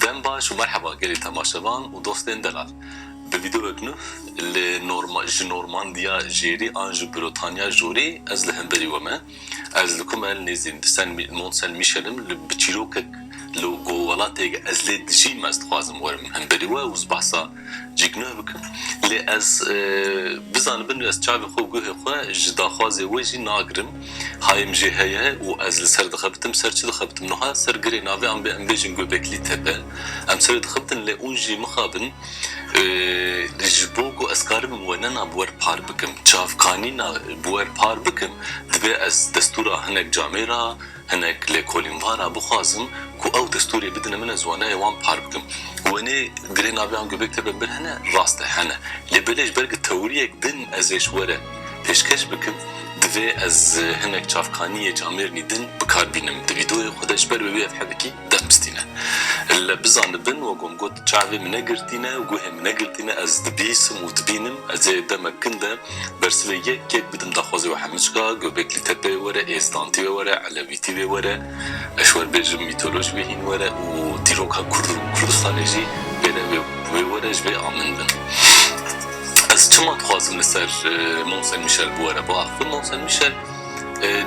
Dem baş û merheba gelê temaşevan û dostên delal. Bi vîdeoyek nû li ji Normandiya jêrî an ji Brotanya jorî ez li hemberî we me. Ez li ku me li nêzîn di Sen Mont Sen Michel im li bi çîrokek li go welatê ge ez lê dijîm ez dixwazim werim hin berî we û ez behsa cî guh bikim lê ez bizanim bin ez çavê xwe û guhê xwe ji daxwazê we jî nagirim hayê min jê heye û ez li ser dixebitim ser çi dixebitim nuha ser girê navê anbê em bêjin Göbekli Tepe em serê dixebitin lê ûn jî mixabin Ji bo ku ez karibim wenena bi wer par bikim, çavkanîna bi wer par bikim, divê ez destûra hinek camê ra, hinek lêkolîn va ra bixwazim ku ew destûrê bidine min ez waneyê wan par bikim. Wenê girê navê an gobek tebe bir hene? Rast e hene. Lê belê ji ber ku tewriyek din ez ê ji were pêşkeş bikim, divê ez hinek çavkaniyê camêrnî din bi kar bînim. Di vîdoyê xwe de ji ber wê wê ev hebitî. Dest bistîne. Li bizanibin wek wan got çavê min ne girtîne, guhê min ne girtîne, ez dibîsim û dibînim, ez ê demek kin de bersivê yek yek bidim daxwazê wê Hemicka, Göbekli Tepe wê were, Êztantî wê were, Elewîtî wê were, eşwerbêjim mîtoloj wê hîn were û dîroka Kurd û Kurdistanê jî bêre wê were ji vê a min bin. Ez çima dixwazim li ser Mont Saint Michel biwere biaxivim? Mont Saint Michel.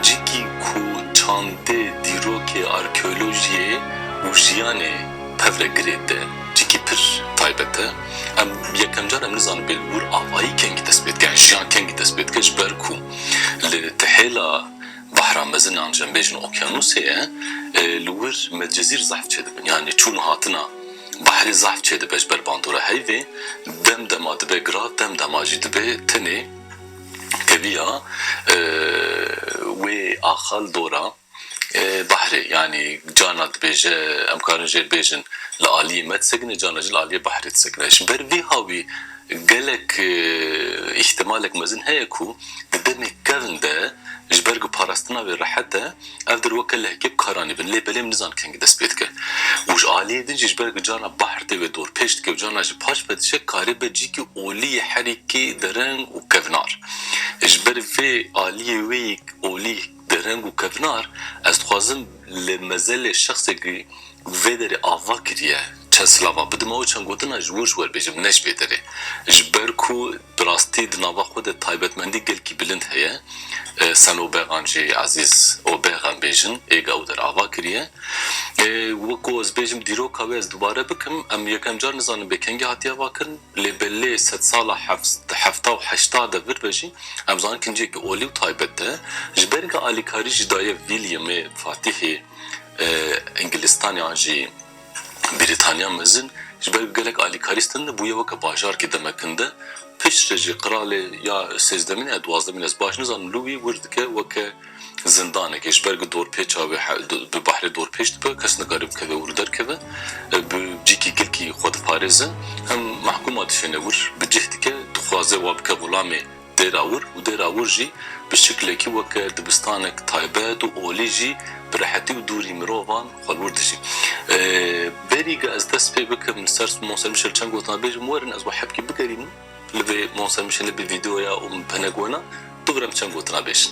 Cikî ku çandê dîrokê arkeolojiyê û jiyanê tev re girê te, cikî pir taybet e. Em yekem car em nizanin Bêlbûr avayî kengî dest pê dike, yan jiyan kengî dest pê dike ji ber ku li te hêla Behra Mezin yan Jembêjin Okyanûsê ye, li wir Medcezîr zehf çêdibin, yanî çûn û hatina behrê zehf çêdibe ji ber bandora heyvê, dem dema dibe girat, dem dema jî dibe tenê. Teviya wê axal dora Bahrê yanî cana dibêje em karin jê bêjin li aliyê me disekine cana jî li aliyê Bahrê disekine. Ji ber vê havî gelek îhtimalek mezin heye ku di demê kevn de ji ber ku parastina wê rehet e, Ev dir weke lehgê bi karan e bin lê belê min nizan kengî dest pê dike. Û ji aliyê din jî ji ber ku carna bahr tê wê dor pêş dike û carna jî paş ve diçe karê be cîkî olî yê herîkî dereng û kevnar. Ji ber vê aliyê wê yê olî dereng û kevnar ez dixwazim li mezelê şexsê ku vê derê ava kiriye çend silava bidime û çend gotina ji wir ji wer bêjim ne ji vê derê. Ji ber ku. Bi rastî di nava xwe de taybetmendî gelkî bilind heye. Senûbegan jî Ezîz û Bêxem bêjin ê gaw der ava kiriye. Wek ku ez bêjim dîroka wê ez dubare bikim, em yekem car nizanim bê kengî hatiye avakirin lê bi lê sedsala hefta û heşta de vir ve jî em zanin kincêkî olî û taybet e. Ji ber ku alîkarî jî daye Wîlyemê Fatîhê Îngilistanê an jî. Brîtanya Mezin ji ber ku gelek alîkarî stende bûye weke bajarkê demekinde. Pişt re jî qiralê ya sêzdemîn ya duwazdemîn ez baş nizanim li wî wir dike weke zindanekê. Ji ber ku dorpêça wê bi bahrê dorpêç dibe kes nikare bikeve wir û derkeve bi cîkî gilkî xwe diparêze. Hem mehkûma dişêne wir bi cih dike dixwaze wa bike xulamê. Dêrawûr û Dêrawûr jî bi şiklekî weke dibistanek taybet û olî jî bi rehetî û dûrî mirovan xwe wûr dijî. Berî ge ez dest pê bikim li ser Monser Mişel çend gotina bêjim werin ez wi hebkî bigerînim li vê Monser Mişelê bi vîdeoya û bi hinek wena bigirem çend gotina bêjin.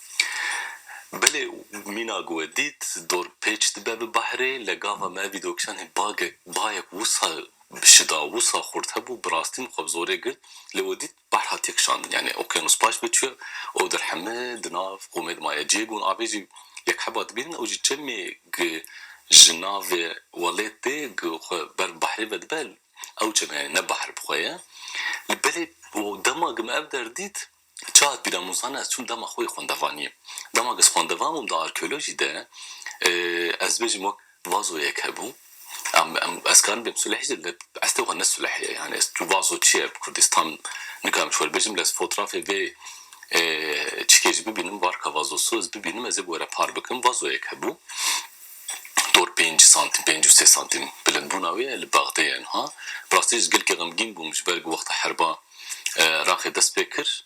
Belê mîna ku we dît dorpêç dibe bi bahrê le gava me vî dokisanê bagek bayek wisa şida wisa xurt hebû bi rastî min xwe bi zorê girt le we dît bahr hatiye kişandin yanî okyanus paş ve çûye û di rehime di nav qûmê de maye cihê ku hûn avê jî yek heba dibînin ew jî çemê ku ji navê welêt tê ku xwe ber bi bahrê ve dibe ew çem e yanî ne bahr bi xwe ye le belê dema ku me ev der dît Çi hat bîra min û zanî ez çûm dema xwe yê xwendevaniyê. Dema ez xwendevan bûm di arkeolojî de ez bêjim wek vazoyek hebû. Ez karim bêm suleh jî lê estê xwe ne suleh ye. Yanî ez tu vazo çi ye bi kurdî tam nikarim ji we re bêjim lê ez fotrafê vê çikê jî bibînim varka vazosu ez bibînim ez ê bi we re par bikim vazoyek hebû. Doktor pênc santîm, pênc û sê santîm bilindbûna wê ye li Bexdê ye niha. Bi rastî ez gelkî xemgîn bûm ji ber ku wexta heriba Iraqê dest pê kir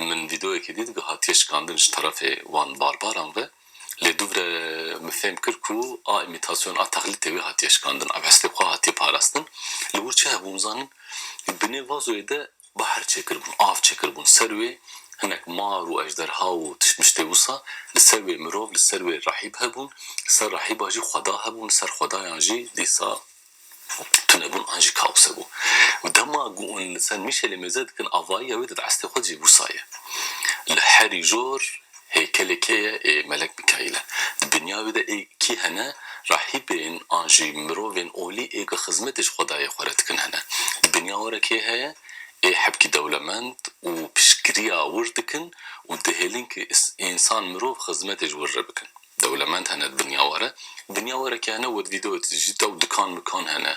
min vîdeoyekê dît ku hatiye şikandin ji terefê wan barbaran ve. Lê dûvre min fêm kir ku a îmîtasyon a texlîtê wê hatiye şikandin, ev hestê xwe hatiye parastin. Li wir çi hebû nizanin? Binê vazoyê de Behr çêkiribûn, av çêkiribûn ser wê, hinek mar û ejderha û tiştmiştê wisa li ser wê mirov, li ser wê rahîb hebûn, li ser rahîba jî xweda hebûn, li ser xwedayan jî dîsa tunebûn an jî kaos hebû. Dema ku hûn li ser Mîşelê mêze dikin avayiya wê dide estê xwe dicî wisa ye. Li herî jor Heykelê kê ye ê Melek Mikaîl e? Di dinya wê de ê kî hene rahîbên an jî mirovên olî ê bi xizmetê ji xwedayê xwe re dikin hene? Di dinya we re kê heye ê hebkî dewlemend û piştgiriya wir dikin û dihêlin ki însan mirov xizmetê ji wir re bikin? Dewlemend hene di dinya we re. Di dinya we re kê hene wed vîde wed jît ew dikan mikan hene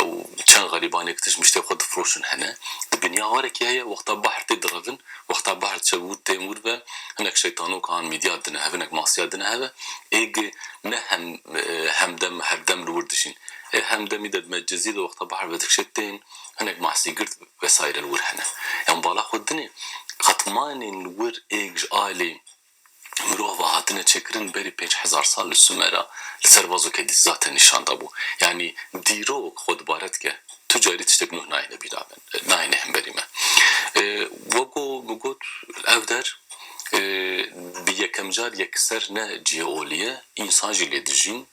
ew çend xerîbanê ki tişt miştê xwe difiroşin hene? Di dinya we re kê heye wexta bahr tê direvin Wexta bahr diçe wûr tê mûr ve hinek şeytanoka an mîdya dine hev hinek masiya dine hev e ê gi ne hem hemdem herdem li wir dijîn ê hemdemî de dime cizî de wexta bahr vedikşê tên hinek mahsî girt vesaîre li wir hene yan bala xwe dinê qet manên li wir ê ji alî mirov ve hatine çêkirin berî pênc hezar sal li Sumera li ser vazokê dîzza te nîşan dabû. Yanî dîrok xwe dubare dike. Tu carî tiştê bi nuh nayêne bîra me, nayêne hemberî me. Wego min got ev der bi yekemcar yekser ne cihê olî ye, însan jî lê dijîn.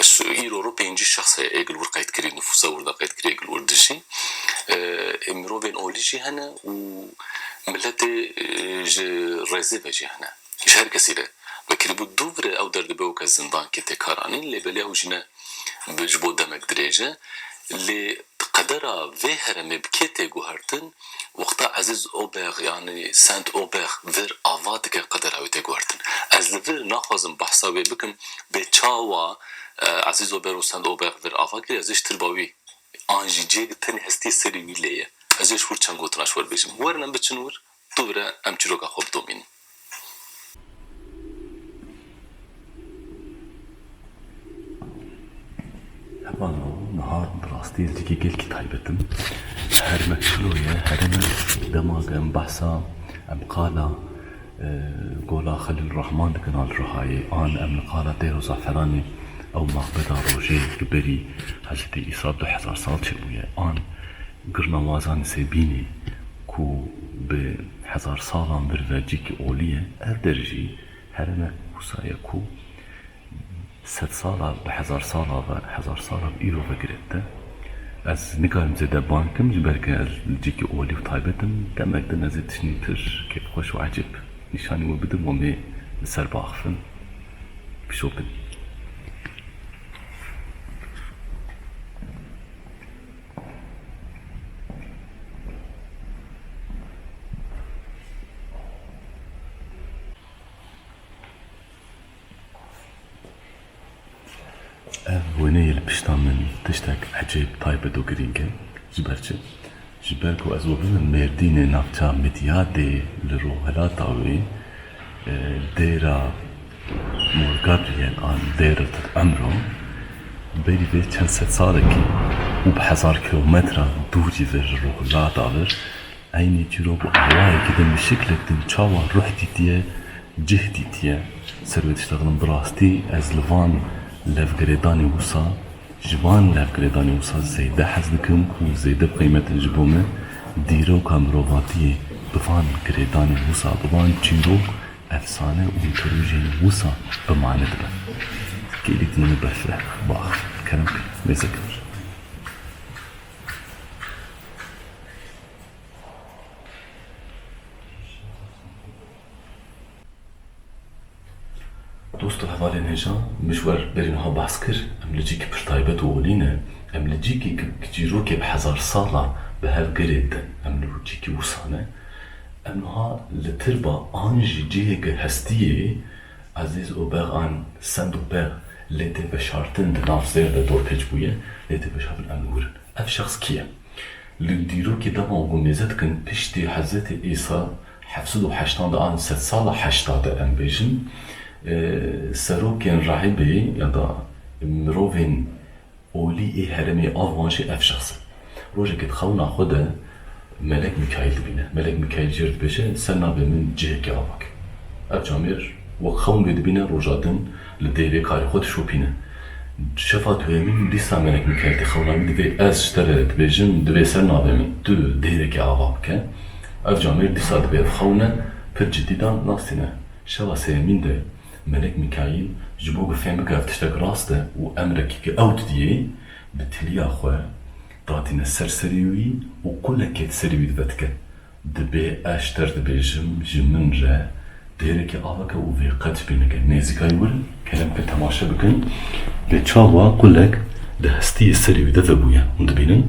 Ez îro ro pêncî şexs heye ê gil wir qeydkirî, nifûsa wir de qeydkirî ê gil wir dijî. Ê mirovên olî jî hene û miletê ji rêzê ve jî hene. Ji her kesî re ve kirîbû dû vire ew der dibe weke zindan kê tê kar anîn lê belê ew jî ne bi ji bo demek dirêj e. Lê qedera vê heremê bi kê tê guhertin Wexta Ezîz Obex yanî Saint Obex vir ava dike qedera wî tê guhertin. Ez li vir naxwazim behsa wê bikim bê çawa Ezîz Obex û Saint Obex vir ava kiriye ez ê ji tirba wî an jî cê bi tenê hestiyê serê wî lê ye. Ez ê ji wir çend gotina ji wir bêjim. Werin em biçin wir, dû vire em çîroka xwe bidomînin. Heval o nihar bi rastî ez yekê gelkî taybet im. Her me şilo ye here me dema ku em behsa em qala Gola Xelîl Rehman dikin a li Rihayê an em li qala Dêro Zaferanê ew maqbeda rojê li berî Hezretî Îsa du hezar sal çêbûye an Girnawazan li Sêbînê ku bi hezar salan vir vercîkî olî ye, ev der jî hereme wisa ye ku sed sala bi hezar sala ve, hezar sala bi îro ve girêt e. Ez nikarim zêde bang kim ji ber ku ez li cîkî olî û taybet im, demek din ez ê tişnîtir kêfxweş û ecêb nîşanî we bidim û mê li ser biaxivin, bişopin. Ev wêneyê li pişta min tiştek ecêb taybet û girîng e. Ji ber çi? Ji ber ku ez we bibim mêrdînê navça Midyadê li Rojhilata wê dêra Morgabiyên a Dêret û Emro berî vê çend sed salekî û bi hezar kilometran dûrî vir li Rojhilata vir eynî çîrok û awayekî din bi şiklek din çawa ruh dîtiye, cih dîtiye. Ser vê tişta didim bi rastî ez li van levgirêdanê wisa, ji van levgirêdanê wisa zêde hez dikim û zêde bi qîmet in ji bo min. Dîroka mirovatiyê bi van girêdanên wisa, bi van çîrok Efsane û rojên wisa bi mane dibe. Gelî dimîne befre, bax, kerem kir, mêze kir. Dosto hevalên hêjan, min ji wer berî niha behs kir, em li cîkî pir taybet û olî ne. Em li cîkî ku cîrokê bi hezar sal a, bi hev girêdin. Em li cîkî wisa ne. Em niha li tirba an jî cihêke hestiyê Ezîz û Bex an Send û Bex lê tê veşartin di nav zêr de dorpêç bûye lê tê veşartin em digurin ev şexs kî ye. Li dîrokê de van ku nêze dikin piştî Hezretê Îsa heft sed û heştan de an sed sala heşta de em bêjin serokên rahîbê ya da mirovên Olî ê herêmê av wan jî ev şexs e. Rojekê di xewna xwe de Melek Mîkaîl dibîne. Melek Mîkaîl jê re dibêje ser navê min cihekê ava ke. Ev camêr wek xewn vê dibîne roja din li dêrê karê xwe dişopîne. Şefa duyemîn dîsa Melek Mîkaîl tê xewna wî divê ez ji te re dibêjim divê ser navê min tu dêrekê ava bike. Ev camêr dîsa divê ev xewne pir cidî dan nas tîne. Şeva sêyemîn de. Melek Mîkaîl ji bo ku fêm bike ev tiştek rast e û emrekî ku ew didiyê, bi tiliya xwe datîne ser serî wî û qûlekê di serî wî divetike, Dibê ez ji te re dibêjim, ji min re dêrekê aveke û vê qet ji bîr neke. Nêzîkayî wir kelemkir temaşe bikin, lê çawa qûlek di hestiyê serî wî de vebûye hûn dibînin?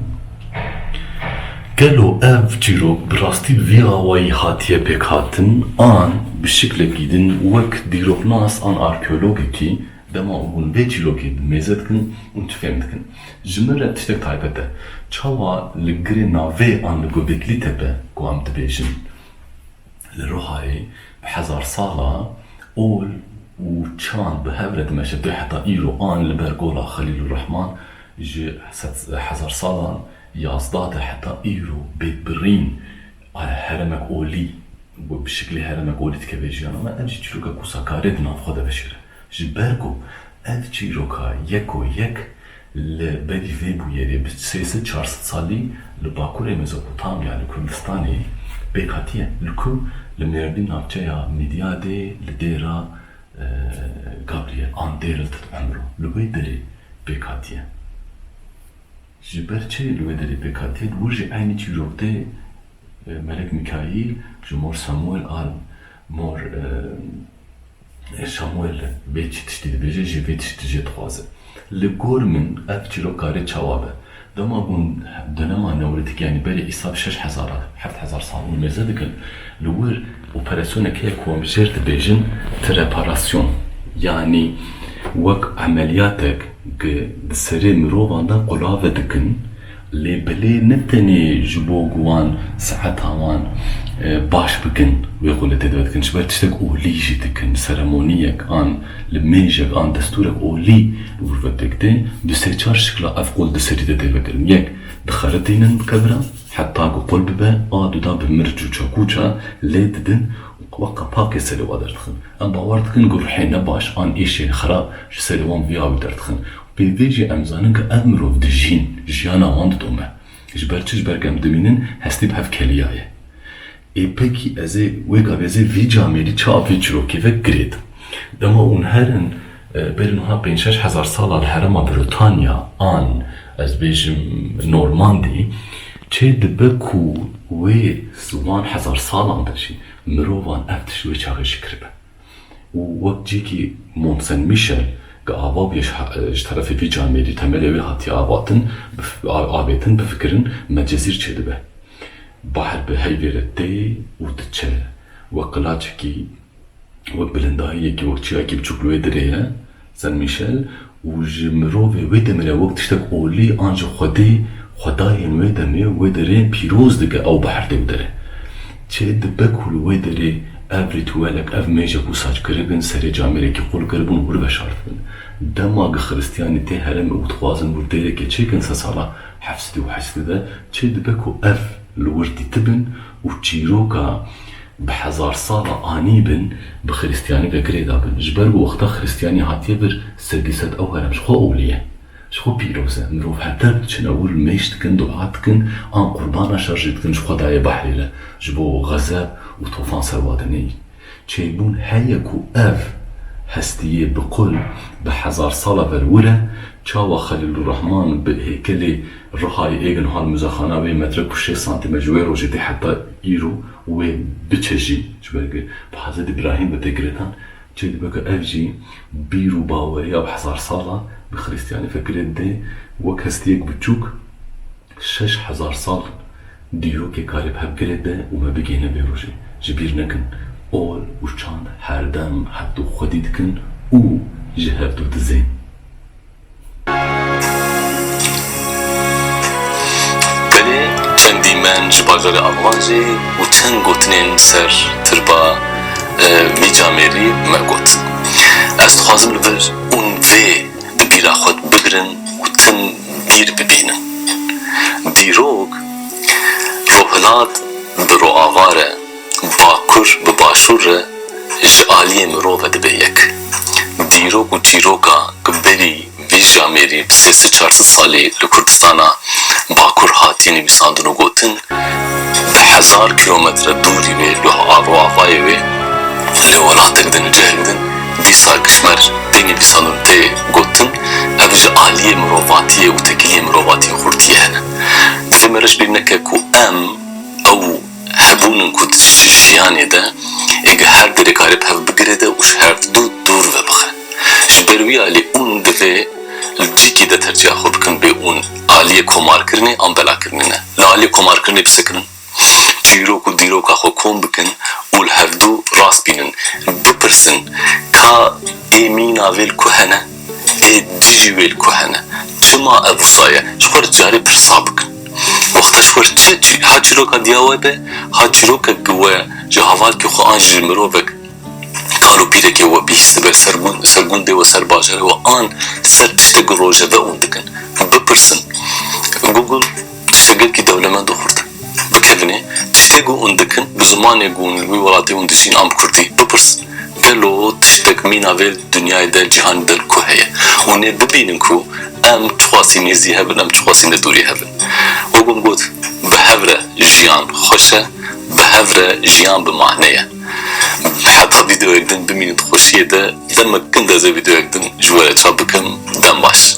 Gelo ev çîrok bi rastî bi vî awayî hatiye pêkhatin an bi şiklekî din wek dîroknas an arkeologekî dema ku hûn vê çîrokê bi mêze dikin û tu fêm dikin ji min re tiştek taybet e çawa li girê navê an li Gobekli Tepe ku em dibêjin li Rihayê bi hezar sala ol û çand bi hev re dimeşe tu heta îro an li ber Gola Xelîlûrehman ji sed hezar salan Yazdeh de heta îro bê birîn heremek olî û bi şiklê heremek olî dike vê jiyana me, ev jî çîroka ku Sakarê di nav xwe de veşêre. Ji ber ku ev çîroka yeko yek li berî vê bûyerê bi sê sed çar sed salî li Bakurê Mezopotamya li Kurdistanê pêk hatiye li ku li Mêrdîn navçeya Mîdyadê li Dêra Gabriyel an Dêrel Tit Emro li wê derê pêk hatiye. Ji ber çi li wê derê pêk hatiye bi wê jî eynî çîrok tê Melek Mîkaîl ji Mor Samuel an Mor Şamuel bê çi tiştî dibêje jî vê tiştî jê dixwaze. Li gor min ev çîrok karê çawa be. Dema hûn donema Newlîtîk yanî berê îsal şeş hezar a heft hezar sal hûn mêze dikin li wir, Operasyoneke ye ku em jê dibêjin preparasyon yanî wek emeliyatek ku di serê mirovan de qulave dikin lê belê ne tenê ji bo ku wan seheta wan baş bikin wê xwe li dê de dikin ji ber tiştek olî jî dikin seremoniyek an nimêjek an destûrek olî li wir ve pêk tê. Du sê çar şikla ev qul di serî de tê vekirin. Yek dixeritînin bi kevira. Heta ku qul bibe a duda bi mirç û çakûça lê didin û qwa qepaqê serê we derdixin. Em bawer dikin ku ruhên ne baş an êşên xerab ji serê wan via wî derdixin û pê vê jî em zanin ku ev mirov dijîn, jiyana wan didome. Ji ber çi? Ji ber ku em dimînin hestî bi hev keliyaye. Ê pekî ez ê wê gavê ez ê vî camêrî çi a vî çirokê ve girêdim. Dema ûn herin bêrî niha pênc şeş hezar sala li herêma Britanya an ez bêjim Normandî çê dibe ku wê wan hezar salan de jî mirovan ev tişt wê çaxê ji kiribe. û wek cîkî Mont Saint Michel ke ava bûye ji terefê vî camê lê temelê wê hatiye avatin avêtin bifikirin me cezîr çêdibe. Bahr bi heyvê re tê û diçe wek qilaçekî wek bilindayiyekî wek çiyayekî biçûk li wê dirê ye. Saint Michel û ji mirovê wê demê re wek tiştek olî an ji xwedê, xwedayên wê demê wê derê pîroz dike ew biherdê û dere çê dibe ku li wê derê ev rîtûelek, ev mêje ku sac kiribin serê camêrekî qul kiribûn wir veşartibin. Dema gi xiristiyanî tê heremê û dixwazin wir dêrekê çêkin sedsala heft sedî û heşt sede çê dibe ku ev li wir dîtibin Û çîroka bi hezar sala anî bin bi xirîstîyanî ve girê da bin. Ji ber ku wexta xirîstîyanî hatiye vir sedî sed ew herem ji xwe ewlî ye. Ji xwe pîroz e. Mirov heter diçin ewil mêş dikin, dua dikin an qurbana şer jî dikin ji xwe dayê behrê re ji bo xezeb û tofan serwa de neyî. Çêbûn heye ku ev hestiyê bi qul bi hezar sala ver wir e, çawa Xelîlûrrehman bi hêkelê Rihayê Êgin Hal Muzexana wê metre ku şêst santîm e ji wê rojê tê heta îro wê biçejî ji ber ku bi Hezretî Brahîm ve tê girêdan çê dibe ku ev jî bîr û baweriya bi hezar sala bi xirîstiyanî fekirê dê wek hestiyek biçûk Şeş hezar sal in dîrokê karê bi hev girê be û me bigihîne vê rojê. Ji bîr nekin, ol û çand her dem hevdu xwedî dikin û ji hevdu dizên. Belê çend dîmen ji bajarê Almanjê û çend gotinên ser tirba vî camêrî me got. Ez dixwazim li vir ûn vê bi bîra xwe bigirin û tim. dîr bibînin. Dîrok Rojhilat bi rojava re, Bakur bi Başûr re ji aliyê mirov ve dibe yek. Dîrok û çîroka ku berî vî jamêrî bi sê sid çar sid salî li Kurdistana Bakur hatiye nivîsandin û gotin, bi hezar kîlometre dûrî wê rojavayê wê li welatek din û cihek din, Dîsa Kişmer deynê dîsanan tê gotin, ev ji aliyê mirovatiyê û tekiliyê mirovatiyê xurtiyê hene. Divê me reş bê neke ku em, ew hebûn in ku di jiyanê de ê gi her derê karê bi hev bigire de û ji hevdu dûr ve bixe. Ji ber wî alî ûn divê li cîkê de tercîha xwe bikin bê ûn aliyê komarkirinê an belakirinê ne. Li aliyê komarkirinê bisekirin. çîrok û dîroka xwe kom bikin û li hevdu rast bînin, bipirsin ka ê mîna vê li ku hene, ê dijî wê li ku hene, çima ev wisa ye, ji xwe re carê pirsa bikin. Wexta ji xwe re çi çi, ha çîroka diya we be, ha çîrokek ku we ji havalkê xwe an ji mirovek kal û pîrekê we bihîst dibe ser gund, ser gundê we, ser bajarê we an ser tiştek ku rojeve û dikin, bipirsin. Google. Tiştê gelkî dewlemend û xurt e. Bikevine tiştê ku hûn dikin bi zimanê ku hûn li wî welatê hûn dijîn a bi kurdî. Bipirs gelo tiştek mîna vê dinyayê de cîhanê de li ku heye? Hûn ê bibînin ku em çiqasî nêzî hev in em çiqasî li dûrî hev in. Wek hûn got bi hev re jiyan xweş e, bi hev re jiyan bi mane ye. Heta vîdeoyek din bimînin di xweşiyê de demek kin dezê vîdeoyek din ji we re çap bikim. Dem baş.